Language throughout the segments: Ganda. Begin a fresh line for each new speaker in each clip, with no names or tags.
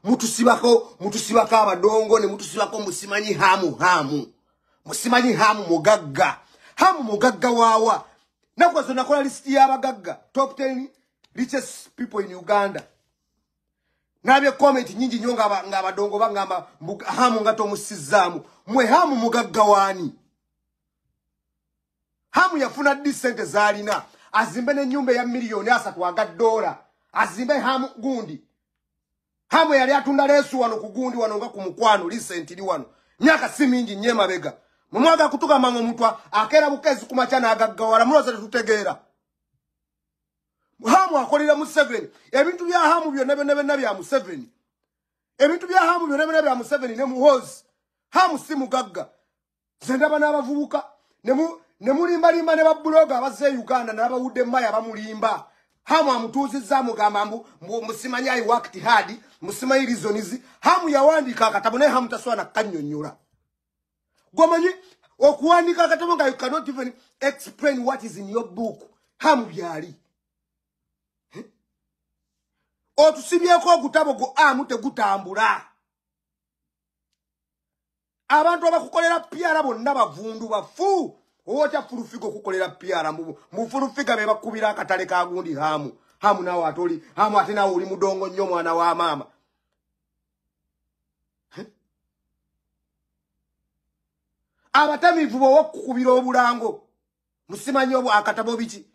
mutusibako mutusibako abadongo ne mutusibako musimanyi hamu hamu musimanyi hamu mugagga hamu mugagga wawa nakwa zona kola list ya bagagga top 10 richest people in Uganda nabye comment nyingi nyo nga nga badongo bangamba hamu ngato musizamu mwe hamu mugagga wani hamu yafuna ddi sente zalina azimbe nenyumba eya miliyoni asatu aga dola azimbe hamu gundi hamu yali atunda lesu wano ku gundi wano nga ku mukwano lisenti li wano myaka si mingi nye mabega mumwaga kutuka mango mutwa akera bukezi kumacha na agagawala muloza tutegeera hamu akolera museveni ebintu bya hamu byonna byonna byonna bya museveni ebintu bya hamu byonna byonna bya museveni ne muhozi hamu si mugagga nze ndaba n'abavubuka ne mulimbalimba ne babuloga abazze e uganda n'abawudde maya bamulimba hamu amutuuzizza amugamba mbu musimanyi i worked hard musimanyi reasons hamu yawandiika akatabo naye hamu tasobola nakukanyonyola gwomanyi okuwandiika akatabo nga you cannot even explain what is in your book hamu byali otusibyeko ogutabo gwo amu tegutambula abantu abakukolera piara bonna bavundu bafu owotya fulufiga okukolera piara mufulufiga bebakubira akatale kagundi hamu hamu nawe ate oli hamu ate nawe oli mudongo nnyo omwana wa maama abatamivu bowakukubira obulango musimanyi obwo akatabo biki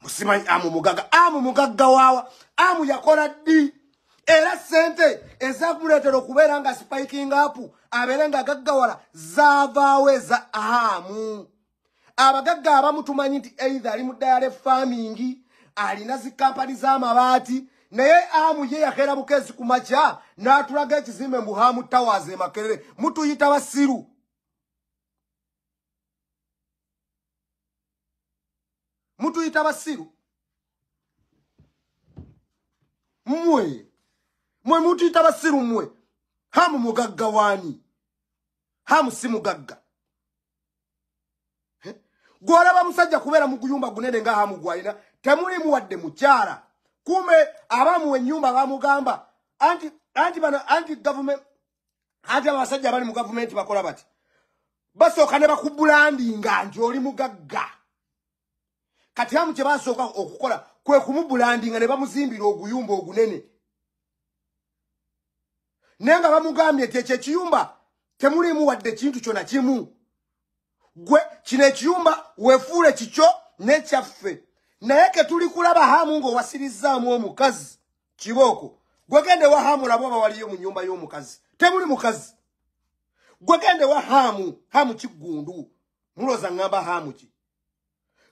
musimanyi amu mugagga amu mugagga waawa amu yakola ddi era sente ezakuleetera okubeera nga spiking up abeere nga gaggawala zaavaawo eza amu abagagga abamu tumanyi nti either ali mu dayale farming alina zikampani z'amabaati naye amu ye yakeera bukeezi ku makya n'atulaga ekizimbe mbu hamu towers e makerere mutuyita basiru mutuyita basiru mmwe mwe mutuyita basiru mmwe hamu mugagga waani hamu si mugagga gwolaba musajja kubeera mu guyumba gunene nga hamu gwalina temulimu wadde mukyala kumbe abamuwa ennyumba bamugamba anti anti bano anti gavument anti abasajja abali mu gavumenti bakola bati basooka ne bakubulandinga nti oli mugagga kati amu kye basooka okukola kwe kumubulandinga ne bamuzimbira oguyumba ogunene naye nga bamugambye nti ekyo ekiyumba temuliimu wadde kintu kyona kimu gwe kino ekiyumba wefuule kikyo nekyaffe naye ketuli kulaba hamu ng'owasirizzaamu omukazi kibooko gwegende wa hamu olaba oba waliyo mu nyumba y'omukazi temuli mukazi gwegende wa hamu hamu kiggundu muloza ngamba hamu ki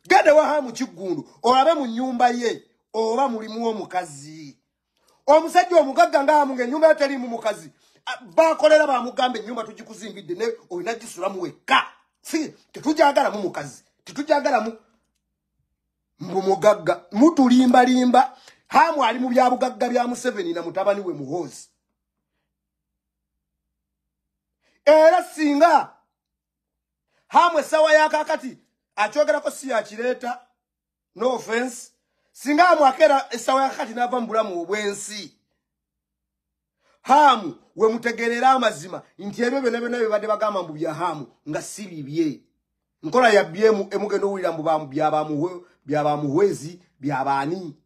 genda ewaha mu kiggundu olabe mu nnyumba ye oba mulimu omukazi omusajja omugagga ngaamu ng'ennyumba yo teriimu mukazi bakolera bamugamba ennyumba tugikuzimbidde naye olina gisulamu wekka si tetugyagalamu mukazi tetugyagalamu mbu mugagga mutulimbalimba haamu ali mu byabugagga bya museveni na mutabani we muhoozi era singa hamu essawa yakakati akyogerako si yakireeta no offense singa amwakeera essawa yakakati n'ava mu bulamu obwensi hamu wemutegerera amazima nti ebyo byona byona byebadde bagamba mbu bya hamu nga si bibye nkola yabyemu emugenda owulira mbu byabamuhwezi byabaani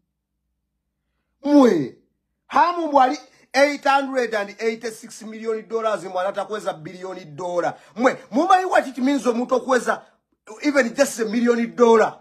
mwe hamu mbwali 886 million dollars mwe anatakweza billion dollar mwe mumanyi what it means omuntu okweza even just a million dollar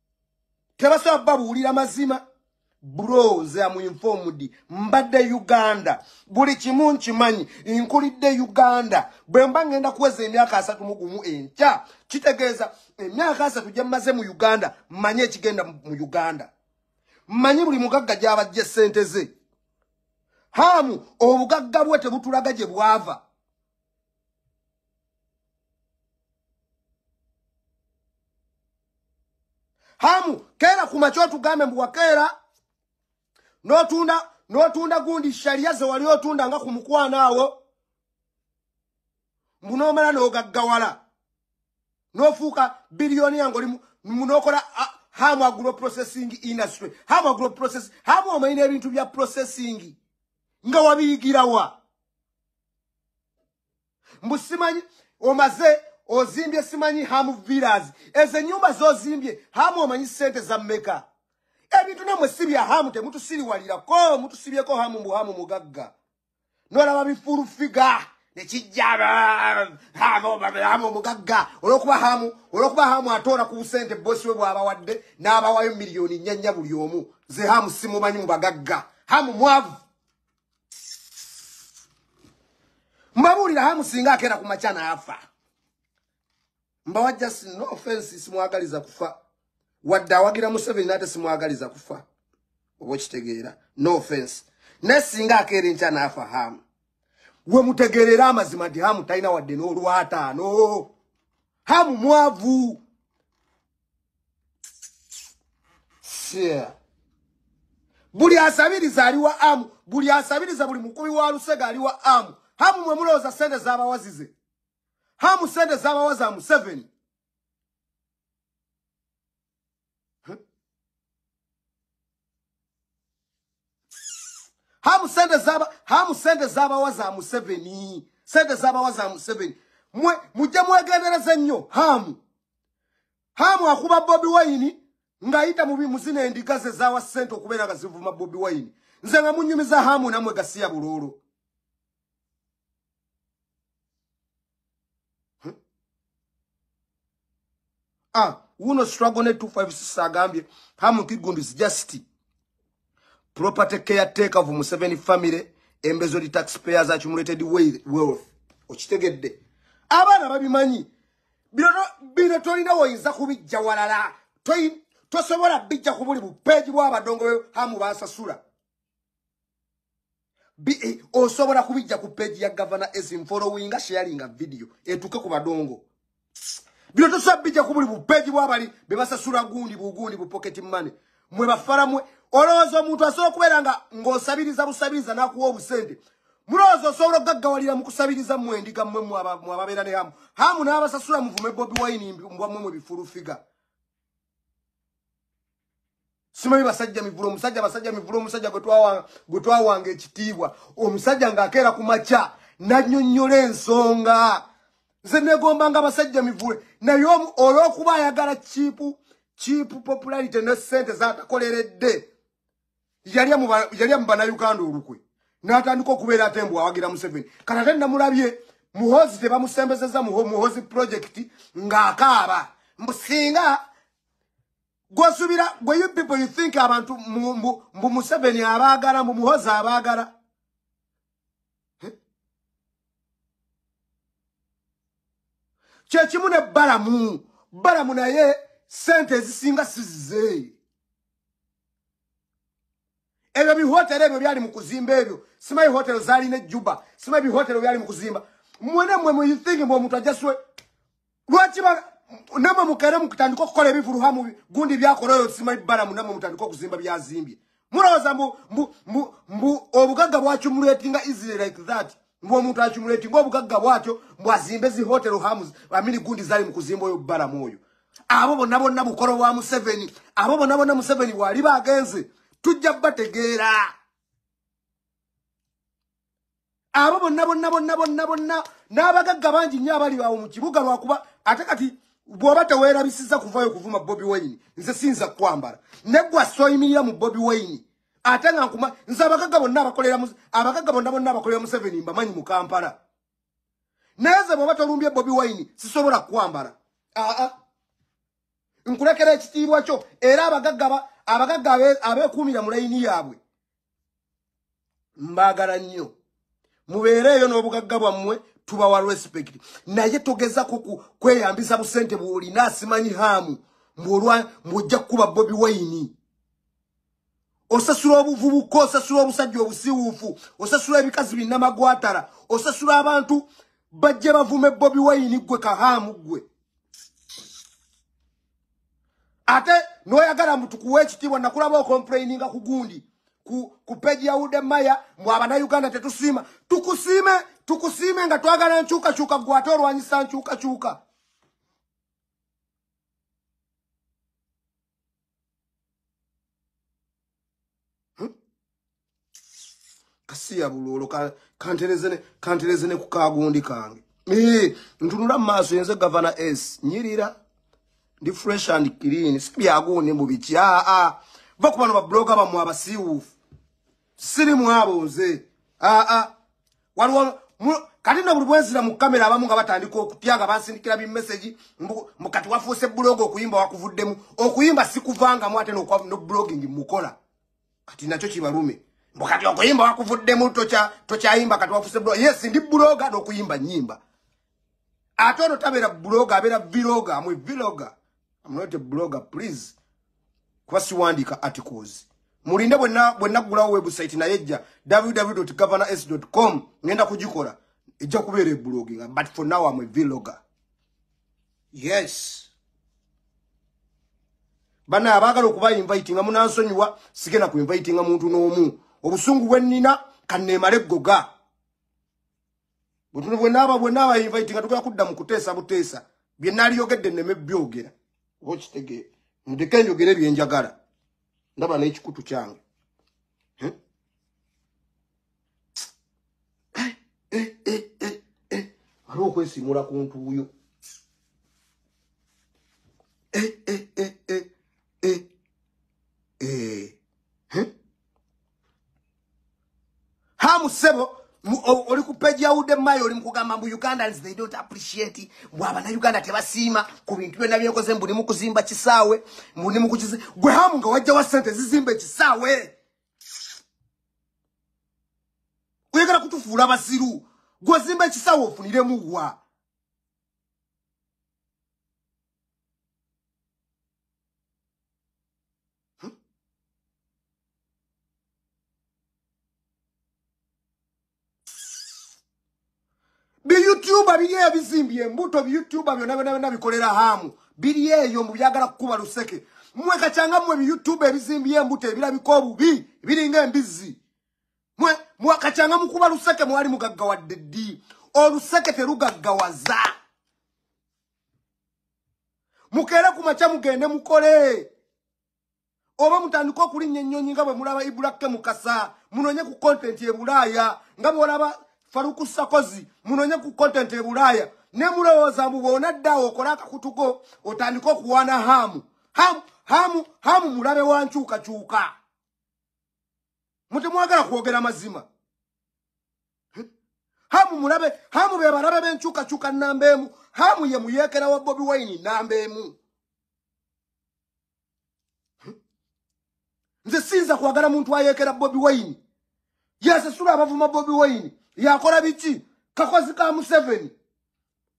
tebasobola kubabuulira mazima bro nze amuinfomudi mbadde uganda buli kimu nkimanyi nkulidde uganda bwe mba ngenda kuweza emyaka asatu mu gumu enkya kitegeeza emyaka asatu gye mmaze mu uganda mmanyi ekigenda mu uganda mmanyi buli mugagga gy'abajja essente ze haamu obugagga bwe tebutulaga gye bwava hamu keera kumakya otugambe mbu wakeera notunda notunda gundi sharia ze wali otunda nga ku mukwano awo mbu nomala nogaggawala nofuuka biliyoni yange oli munokola hamu agro processing industry hamu agro process hamu omanyi n'ebintu bya processing nga wabiyigirawa mbu simanyi omaze ozimbye simanyi ham villas ezo enyumba zozimbye hamu omanyi sente za meka ebintu namwe si bya hamu temutusiriwalirako mutusibyeko hamu mbu hamu mugagga nolaba bifulu figa nekijja hamu hamu mugagga olwokuba hamu olwokuba hamu atoora ku busente bosi we bwabawadde n'abawayo miliyoni nyanya buli omu ze hamu simumanyi mubagagga hamu mwavu mbabuulira hamu singa akeera ku makya naafa mbawa just no offense simwagaliza kufa wadde awagira museveni naate simwagaliza kufa oba okitegeera no offense naye singa akeera enkya naafa hamu we mutegeerera amazima nti hamu talina wadde n'olwataano hamu mwavu Yeah. buli asabiriza ali wa amu buli asabiriza buli mukubi wa lusega ali wa amu hamu mwe mulowooza sente z'abawazize hamu sente z'abawazi a museveni hamu sente zaba hamu sente zaba waza museveni sente zaba waza museveni mwe mujja mwegendereza nnyo hamu hamu akuba bobi wayini ngayita mubi muzina endiga ze zawa sente okubeera nga zivuma bobi wayini nze nga munyumiza hamu namwe gasiya buloolo ah wuno struggle ne 256 agambye hamu kigundi is just property care taker of Museveni family embezo di taxpayers accumulated wealth okitegedde abaana babimanyi bino bino tolina woyinza kubijja walala tosobola bijja ku buli bupeegi bw'abadongo hamu basasula Eh, osobola kubijja ku page ya governor esim followinga sharinga video etuke ku badongo bino tosobola bijja ku buli bupeji bwabali be basasula gundi bugundi bu pocket money mwe bafala mwe olowooza omuntu asobola okubeera nga ng'osabiriza busabiriza n'akuwa obusente mulowooza osobola okugaggawalira mu kusabiriza mwe endiga mwe mwababeera ne hamu hamu n'abasasula muvume bobi wine mbwa mwe mwe bifulufiga simanyi basajja mivule omusajja basajja mivule omusajja gwe twawanga ekitiibwa omusajja ng'akeera ku makya nannyonnyola ensonga nze negombanga abasajja mivule naye olw'okuba ayagala kiipu kiipu popularity ne ssente zatakoleredde yalya mu banauganda olukwe n'atandika okubeera ate mbu awagira museveni kati ate namulabye muhozi tebamusembezeza muhozi project ng'akaaba mbu singa gwosubira gwe you people you think abantu mbu museveni abaagala mbu muhozi abaagala kyekimu ne balamu balamu naye sente ezisinga sizize ebyo bihotero ebyo byali mu kuzimba ebyo simanyi hotero zaalina ejjuba simanyi bihotero byali mu kuzimba mwena mwe muyithingi mwe omuntu ajaswe lwaki namwe mukere mukutandika okukola ebivuluha mu gundi byakola oyo simanyi balamu namwe mutandika okuzimba byazimbye mulowooza mbu obugagga bwaki muluetinga israel like that mbu omuntu acumuleti mbu obugagga bwatyo mbu azimbe zi hotel hams amini gundi zali mukuzimba oyo balamu oyo abo bonna bonna bukolo bwa museveni abo bonna bonna museveni wali bagenze tujja bategeera abo bonna bonna bonna bonna bonna n'abagagga bangi nnyo abali bawo mu kibuga lwakuba ate kati bwoba tewerabisiza kuvayo kuvuma bobi wayini nze siyinza kukwambala negwa soyimirira mu bobi wayini ate nga nkuma nze abagagga bonna abakolera abagagga bonna bonna abakolera museveni mbamanyi mu kampala naye ze bwoba tolumbye bobi wine sisobola kukwambala aa nkulekera ekitiibwa kyo era abagagga abagagga abeekuumira mu layini yaabwe mbaagala nnyo mubeere eyo n'obugagga bwammwe tubawa respect naye togeza kweyambiza busente bwolina asimanyi haamu mbwojja kukuba bobi wine osasula obuvubuka osasula obusajja obusiwuufu osasula ebikazi binnamagwatala osasula abantu bajja bavume bobi wayini ggwe kahaamu ggwe ate noyagala mutukuwa ekitiibwa nakulaba okomplaininga ku gundi ku peji ya ude maya mwe abanauganda tetusiima tukusiime tukusiime nga twagala nkyukakyuka gwe ate olwanyisa nkyukakyuka hmm? kasiya bulolo kantereze ne kukagundi kange eh, ntunula mumaaso yenze gavana s nyirira ndi fresh and clean sibyagundi mubiki aa ah, ah. va kubano babloga bamwe abasiiwuufu siri mwabo nze aa ah, waliwo kati no buli bwenzira mu kamera abamu nga batandika okutya nga bansindikira bimesegi mbu kati wafuuse buloga okuyimba wakuvuddemu okuyimba sikuvangamu ate noblogging mukola kati nakyo kibalume mbu kati okuyimba wakuvuddemu tokyayimba kati wafuuse buloga yes ndi buloga nokuyimba nyimba ate ono tabeera blogger abeera viloga amwe viloga amnote blogger please kuba siwandiika articles mulinde bwenaggulawo website naye ejja www governors com ngenda kugikola ejja kubeera ebloginga but for now amwe viloga yes bana abagala okuba invite nga munansonyiwa sigena ku invite nga muntu n'omu obusungu bwe nnina kanneemale ggoga bwetuno bwenaaba bwenaaba invite nga tugala kudda mu kuteesa buteesa bye naliyogedde neme byogera oba okitegeera ndeke njogere byenjagala ndaba n'ekikutu kyange eh, eh, eh, waliwo okwesimula ku ntuuyo hamu sebo oli ku page ya ude mayo oli mukugamba mbu ugandans they don't appreciate mbu abana uganda tebasiima ku bintu byonna byenkoze mbu ni mukuzimba kisaawe mbu ni mukukize gwe hamu nga wajja wa sente zizimba ekisaawe oyagala kutufuula basiru gwozimba ekisaawe ofuniremu wa biyutuba biri ebizimbye embuto biyutuba byona byona byona bikolera hamu biri eyo mu byagala kukuba luseke mwe kacanga mwe biyutuba ebizimbye embuto ebirabika obubi biringa embizzi mwe mwe kacanga mukuba luseke mwali mugaggawadde ddi oluseke terugaggawaza mukeere ku makya mugende mukole oba mutandike okulinnya ennyonyi nga bwe mulaba ibulakke mukasa munonye ku kontenti e bulaaya nga bwolaba faruku sakozi munonye ku kontenti e bulaaya ne mulowooza mbu bwonaddaawo okole akakutuko otandike okuwaana haamu haamu haamu haamu mulabe wa nkyukakyuka mutemwagala kwogera mazima hamu mulabe hamu be balabe benchuka chuka namba emu hamu ye muyekera wa bobi wine namba emu nze sinza kwagala muntu ayekera bobi wine yasasula abavuma bobi wine yakola biki kakozi ka museveni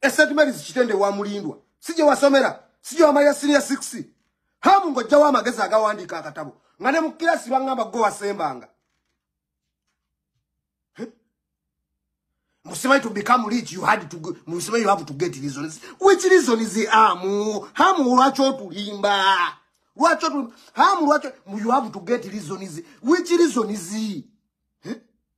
e St Mary's kitende wa mulindwa sije wasomera sije wamalira senior 6 hamu ngojja wa magezi agawandika akatabo nga ne mu kirasi bangamba go wasembanga Musimai to become rich, you had to, Musimai you have to get reasons. Which reason is the amu? Hamu wacho to limba. Wacho to, hamu wacho, you have to get reasons. Which reason is he?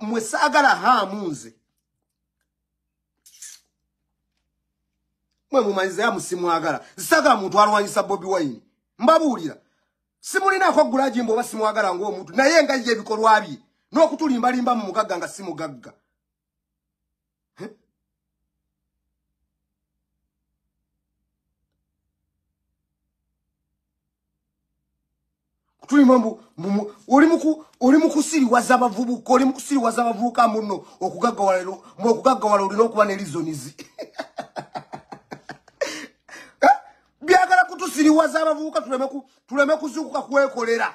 mwe saagala haamu nze mwe mumanyiza yamu simwagala nsaagala muntu alwanyisa bobi wayini mbabuulira simulinako gulajimba oba simwagala ngaomuntu naye nga ye ebikolwa bye n'okutulimbalimba mu mugagga nga simugagga tulima mbu oli muku oli mukusiriwaza abavubuka oli mukusiriwaza abavubuka muno okugaggawala lero mu okugaggawala olina okuba ne lizonizi eh? byagala kutusiriwaza abavubuka tuleme kuzuukuka kwekolera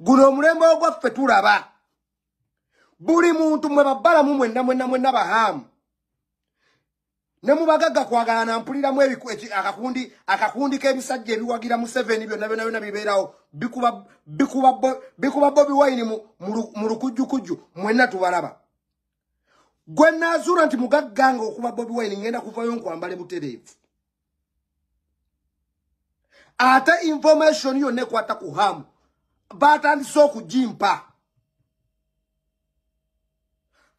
guno omulembe ogwaffe tulaba buli muntu mwe babalamu mwenna mwenna mwenna bahaamu ne mubagagga kwagala nampuliramu akakundi akakundi k'ebisajja ebiwagira museveni byonna byona byona bibeerawo bikuba bobi wayini mu lukujjukujju mwenna tubalaba gwe naazuula nti mugagga nga okuba bobi wayini ngenda kuvayo nkwambale butereevu ate information yonna ekwata ku hamu batandise okugimpa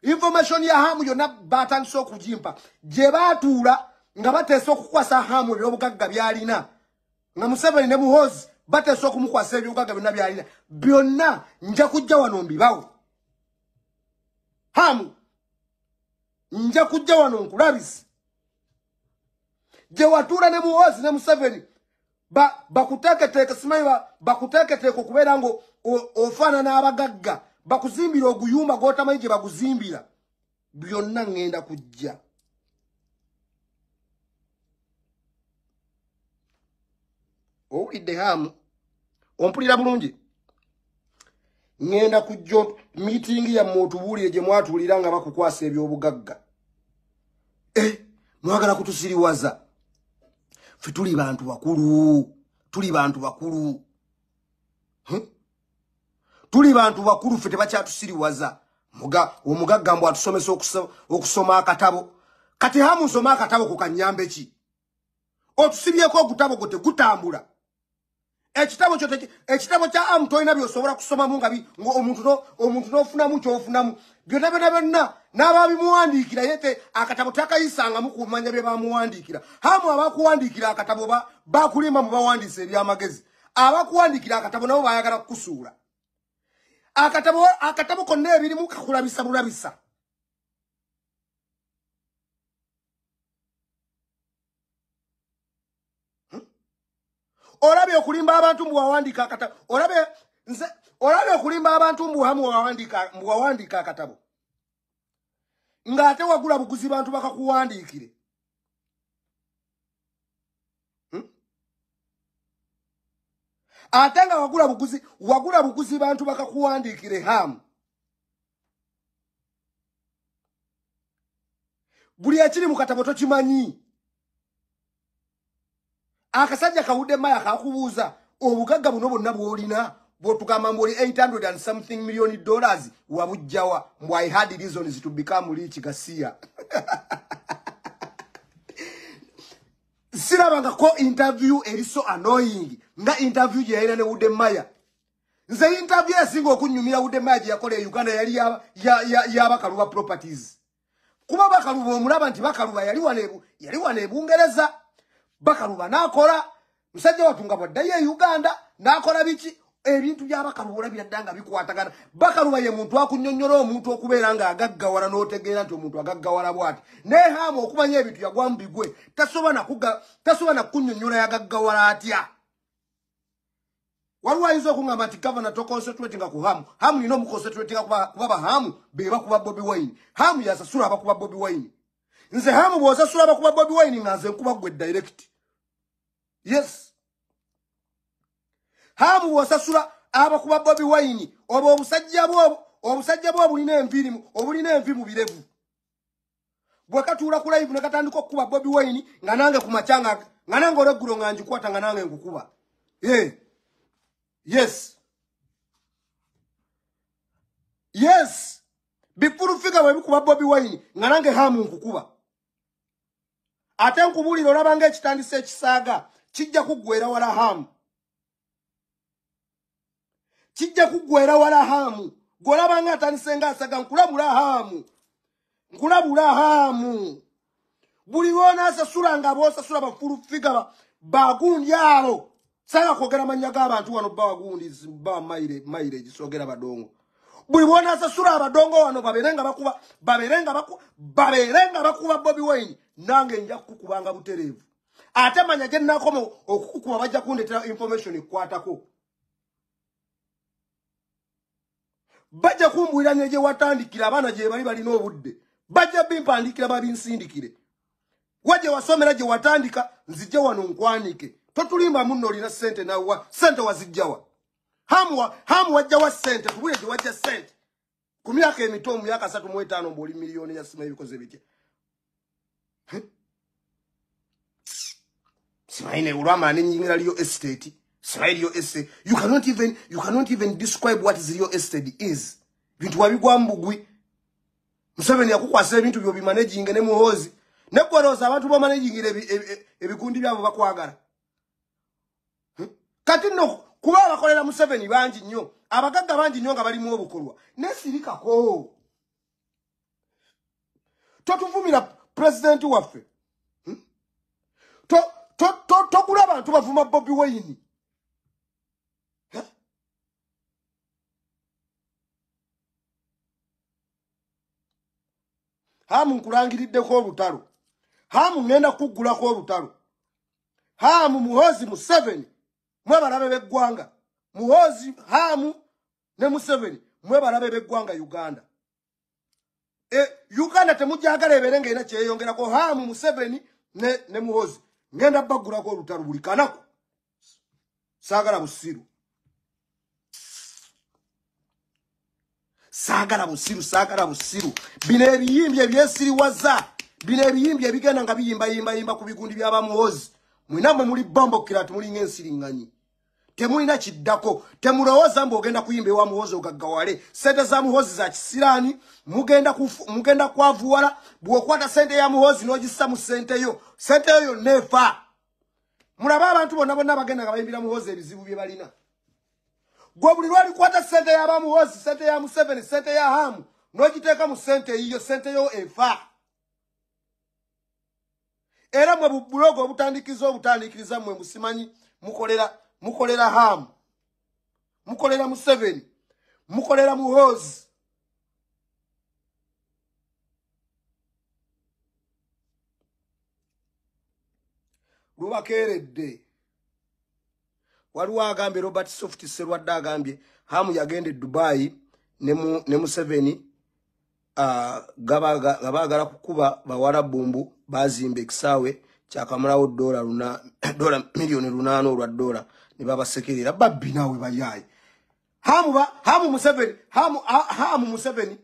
information ya hamu yonna batandise okugimpa gye batuula nga bateesa okukwasa hamu ebyobugagga byalina nga museveni ne muhozi bateesa okumukwasa ebyobugagga byonna byalina byonna nja kujja wano mbibawo hamu nja kujja wano nkulabisi gye watuula ne muhoozi ne museveni bakuteeketeeke simanyi bakuteeketeeke okubeera nga ofaanana abagagga bakuzimbira oguyumba gwotamanyi gye baguzimbira byonna ŋŋenda kujja owulidde hamu ompulira bulungi ŋenda kujja miitingi yammwe otubuulire gye mwatuulira nga bakukwasa ebyobugagga eh, mwagala kutusiriwaza fe tuli bantu bakulu tuli bantu bakulu hm? tuli bantu bakulu fe tebakyatusiriwaza omugagga mbu atusomesa okusoma akatabo kati hamu nsoma akatabo ku kanyambeki otusibyeko ogutabo gwo tegutambula ekitabo kyo ekitabo kya amu tolina byosobola kusomamu nga omuntu n'ofunamu kyofunamu byonna byonna byonna n'ababimuwandiikira yete akatabo takayisangamu ku manya bye bamuwandiikira hamu abakuwandiikira akatabo bakulimba mu bawandiisa ebyamagezi abakuwandiikira akatabo nabo bayagala kukusuula akatabo akatabo konna ebirimu kakulabisa bulabisa hmm? olabye okulimba abantu mbu wawandiika akatabo olabye nze olabye okulimba abantu mbu hamu wawandiika akatabo ng'ate wagula buguzi bantu bakakuwandiikire ate nga wagula buguzi wagula buguzi bantu bakakuwandiikire hamu buli ekiri mu katabo tokimanyi akasajja kawudde maya kakubuuza obugagga buno bonna bwolina bwotugamba mbu oli 800 and something million dollars wabujjawa mbu i had reasons to become rich gasiya sirabangako interview eri so annoying nga interview gyeyalina ne wudde maya nze yintavi esinga okunyumira wude maya gye yakola e uganda yali yabakaluba properties kuba bakaluba omulaba nti bakaluba yali wano ebungereza e bakaluba nakola musajja watu nga bwaddayo e uganda nakola biki ebintu byabakaluba olabira dda nga bikwatagana bakaluba ye muntu akunyonyola omuntu okubeera nga agaggawala n'otegeera nti omuntu agaggawala bwati naye haama okumanya ebintu yagwamu bigwe tasobola nakunyonyola yagaggawala atya waliwo ayinza okuŋamba nti gavana toconcentratinga ku hamu hamu nina omuconcentratinga kuba bahamu bebakuba bobi wine hamu yasasula abakuba bobi wine nze hamu bwosasula abakuba bobi wine nga nze nkuba gwe direct yes hamu bwosasula abakuba bobi wine obwo obusajja bwo obusajja bwo obulina enviri obulina envi mu birevu gwe katuula ku live nekatandika okukuba bobi wine nga nange ku macanga nga nange olweggulo nga njikwata nga nange nkukuba eh. yes yes bifulu figa webikuba bobi wine nga nange hamu nkukuba ate nkubuulira olabanga ekitandisa ekisaaga kijja kuggwera wala hamu kijja kuggwera wala haamu gwolaba nga atandise nga asaga nkulabula haamu nkulabula haamu buli lwonaasasula nga boosasula bafulu figa bagundi abo sanga kwogera mannya g'abantu wano bagundi ba mayire egisogera badongo buli bwonaasasula abadongo wano babeere nga bakuba babeere nga bakuba babeere nga bakuba bobi wayini nange nja kukubanga butereevu ate manya gye nakoma okukukuba bajja kundetera information ekukwatako bajja kumbulira ne gye watandikira abaana gye bali balina obudde bajja bimpandikira babinsindikire wa gye wasomera gye watandika nzijja wano nkwanike totulimba munno olina sente nawa sente wazijjawa hamu wajjawa sente kubule gye wajja sente ku myaka emito mu myaka asatu mu etaano mbu oli miliyoni ya simanyi bikoze bitya simanyi naye olwamaana enyingira liyo estate simanyi liyo estate you cannot even you cannot even describe what is liyo estate is bintu wabigwa mbugwi museveni yakukwasa ebintu byo bimanaginge ne muhoozi neggwerooza abantu bamanagingira ebikundi byabo bakwagala hmm? kati no kuba abakolera museveni bangi nnyo abagagga bangi nnyo nga balimu obukolwa naye sirikako totuvumira pulezidenti waffe hmm? togula abantu bavuma bobi wayini hamu nkulangiriddeko olutalo hamu ŋenda kuggulako olutalo haamu muhoozi museveni mwe balabe beggwanga muhoozi haamu ne museveni mwe balabe beggwanga uganda e, uganda temujagala ebeere nga erina kyeyongerako haamu museveni ne, ne muhoozi ngenda baggulako olutalo buli kanaku saagala busiru saagala busiru saagala busiru bino ebiyimbi ebyesiriwaza bino ebiyimbi ebigenda nga biyimbayimbayimba ku bigundi byabamuwozi mwena mwe muli bombokiratu mulinga ensiringanyi temulina kiddako temulowooza mbu ogenda kuyimba ewa muhozi ogaggawale sente za muhozi za kisiraani mugenda kwavuwala bw'okwata sente ya muhozi n'ogissa mu sente yo sente yo yonna efa mulabe abantu bonna bonna bagenda nga bayimbira muhoozi ebizibu bye balina gwe buli lwalikwata sente yaba muhoozi sente ya museveni sente ya hamu n'ogiteeka mu sente eyiyo sente yo efa era mwe bubulogo obutandikiriza obutandikiriza mwe musimanyi mukolera mukolera hamu mukolera museveni mukolera muhoozi lubakeeredde waliwo agambye robert soft serwadde agambye hamu yagenda e dubayi ne museveni nga baagala kukuba bawala bumbu bazimba ekisaawe kyakamulawo dola miliyoni lunaana olwa dola ne babasekerera babbi naawe bayaayi hamu museveni hamu museveni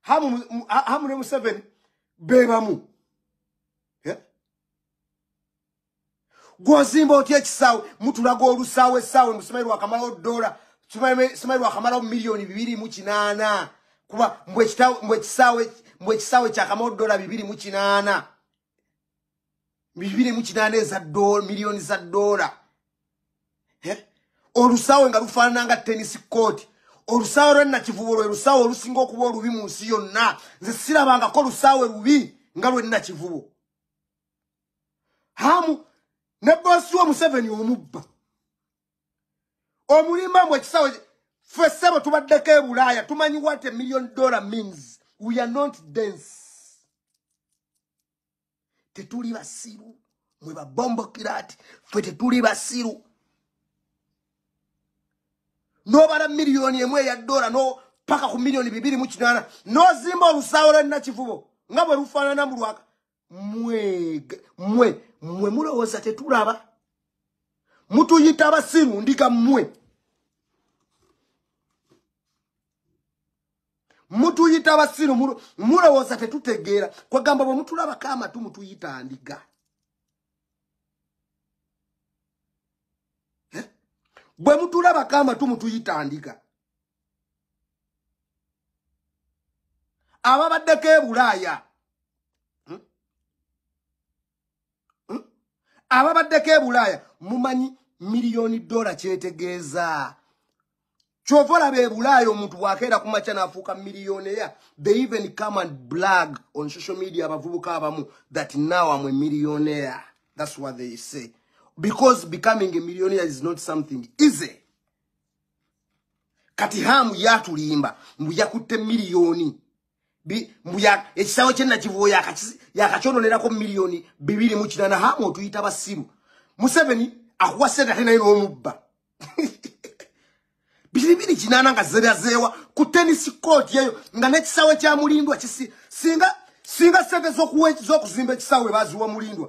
hamu ne museveni bebamu gwozimba otya ekisaawe mutulaga olusaawe esaawe musimayi lwakamalawo dola simayi lwakamalawo miliyoni bibiri mu kinaana kuba mbwe ekisaawe mbwe ekisaawe kyakamalawo dola bibiri mu kinaana bibiri mu kinaana eza miliyoni za doola eh? olusaawe nga lufaanana nga tenisi kooti olusaawe lwenakivubo lwe lusaawe olusinga okuba olubi mu nsi yonna nze sirabangako lusaawe lubi nga lwenakivubo hamu ne bosi wa museveni omubba omulimba mbu ekisawe ffe ssebo tubaddeko e bulaaya tumanyi what a million dollar means we are not dense tetuli basiru mwe babombokira ati ffe tetuli basiru nobala miliyoni emu eya dola no paka ku miliyoni bibiri mu kinaana nozimba olusaawo lwenakivubo nga bwe lufaanana mu lwaka mwe mwe mwe mulowooza tetulaba mutuyita abasiru ndiga mwe mutuyita abasiru mulowooza tetutegeera kwagamba bwe mutulabako amatu mutuyita ndiga eh? bwe mutulabako amatu mutuyita ndiga ababaddeko ebulaaya hmm? hmm? ababaddeko ebulaaya mumanyi miliyoni dola kyetegeeza kyova olaba ebulaaya omuntu bwakeera ku makya naafuuka miliyoneya they even come and blag on social media abavubuka abamu that now am a millionaire that's what they say because becoming a millionaire is not something easy kati hamu yatulimba mbu yakutte miliyoni ekisaawe kyenakivuo yakakyononerako miliyoni bibiri mu kinana hamu otuyita basiru museveni akuwa sente ate naye n'omubba biribiri kinana nga zerazeewa ku tenisi kooti eyo nga nekisaawe kya mulindwa singa sente z'okuzimba ekisaawe baziwa mulindwa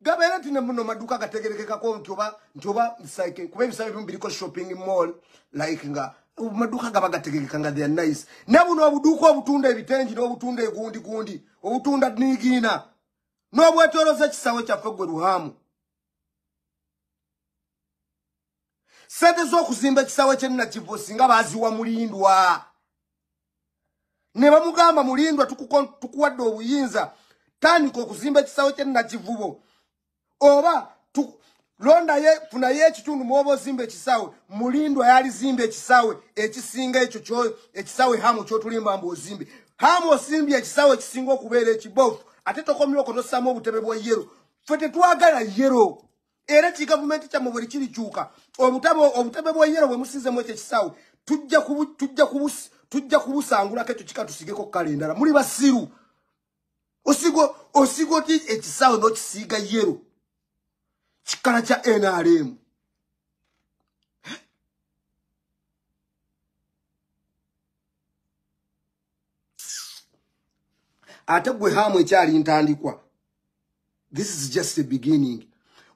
gabeera nti nemuno maduuka gategerekekako nti oba nti oba psyche kuba ebisaba ebimu biriko shopping mall like nga maduuka gaba gategerekeka nga they're nice ne buno obuduuka obutunda ebitengi n'obutunda egundi gundi obutunda nigiina n'obwetoloza ekisawe kyaffe gwe luhaamu sente z'okuzimba ekisawe kyennakivo singa baziwa mulindwa ne bamugamba mulindwa tukuwadde obuyinza tandika okuzimba ekisaawe kye nakivubo oba londaye funayo ekitundu mwoba ozimba ekisaawe mulindwa yalizimba ekisaawe ekisinga ekyo ekisaawe hamu kyotulimba mbu ozimbe hamu osimbye ekisaawe ekisinga okubeera ekibofu ate tokomyoko nosamu obutebe bwa yero fe tetwagala yero era kigavumenti kyammwe bwe likirikyuka obutebe bweyero bwe musiizemu ekyo ekisaawe tujja kubusangulako ekyo kika tusigeko kukala endala muli basiru osiga oti ekisaawe n'okisiiga yero kikala kya nrm ate gwe haamu ekyali ntandikwa this is just a beginning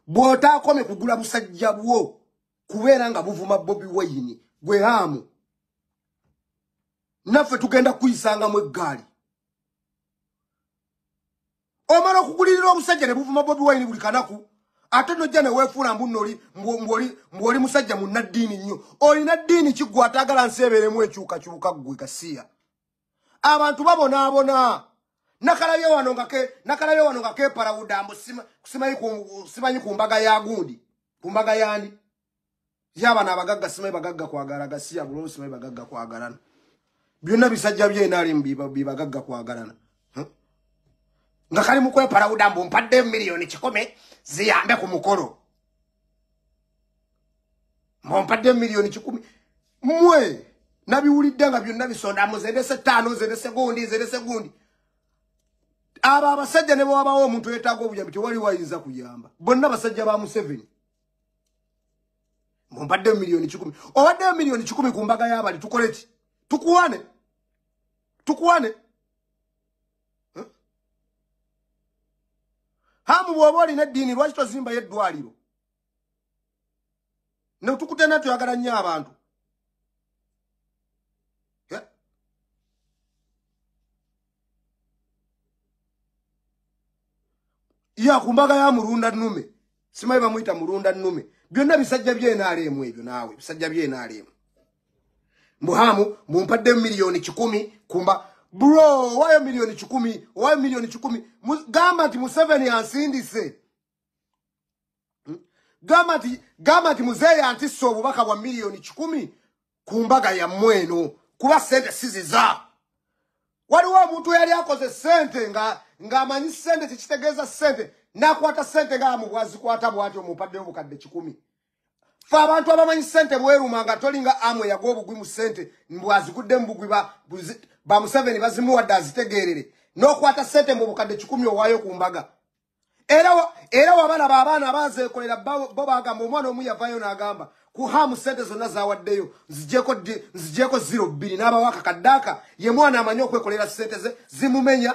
bw'otaakome kugula busajja bwo kubeera nga buvuma bobi wayini gwe haamu naffe tugenda kukuyisangamu eggaali omala okugulirira omusajja ne buvuma bobi wayini buli kanaku ate nojja newefuula mbu noli mbwoli musajja munna ddiini nnyo olina ddiini kiggwe ataagala nsi ebeeremu ekyukakyuka ggwe kasiya abantu babonaabona nakalabye wano nga ke nakalabye wano nga keparawuda mbu simanyi ku mbaga ya gundi ku mbaga yandi yabana abagagga simanyi bagagga kwagala gasiya bulolo simanyi bagagga kwagalana byonna bisajja bye nalimu bibagagga kwagalana nga kali mukwepalawuda mbu mpadde miliyoni kikome ziyambe ku mukolo mbu mpadde miliyoni kikumi mwe nabiwulidde nga byonna bisonda mu zendese ttaano zendese gundi zendese gundi abo abasajja ne bwewabawo omuntu yetaaga obuyambi tewali wayinza kuyamba bonna basajja ba museveni mumbadde miliyoni kikumi owaddeyo miliyoni kikumi ku mbaga y'abali tukole ki tukuwane tukuwane hamu bw'oba olina eddiini lwaki tozimbayo eddwaliro netukutena tuyagala nnyo abantu ya ku mbaga ya mulunda nnume simanyi bamuyita mulunda nnume byonna bisajja byenaleemu ebyo naawe bisajja byenaleemu mbuhamu mumpadde miliyoni kikumi kumba bro owayo miliyoni kikumi owayo miliyoni kikumi gamba nti museveni ansindise hmm? gamba nti gamba nti muzeeyi antissa obubaka bwa miliyoni kikumi ku mbaga yammwe eno kuba sente siziza waliwo omuntu yali akoze sente nga ng'amanyi sente kyekitegeeza sente n'akwata sente nga amu bwazikwata bwati omupadde obukadde kikumi fe abantu abamanyi sente bweruma nga tolinga amwe yagwa obugwi mu sente mbwazigudde mu bugwi bamuseveni bazimuwadde azitegeerere n'okwata sente mu bukadde kikumi owaayo ku mbaga era wabalaba abaana abazekolera bo bagamba omwana omu yavayo nagamba kuhamu sente zonna zawaddeyo nzijeko zero bbiri n'abawaka kaddaaka ye mwana amanyi okwekolera sente ze zimumenya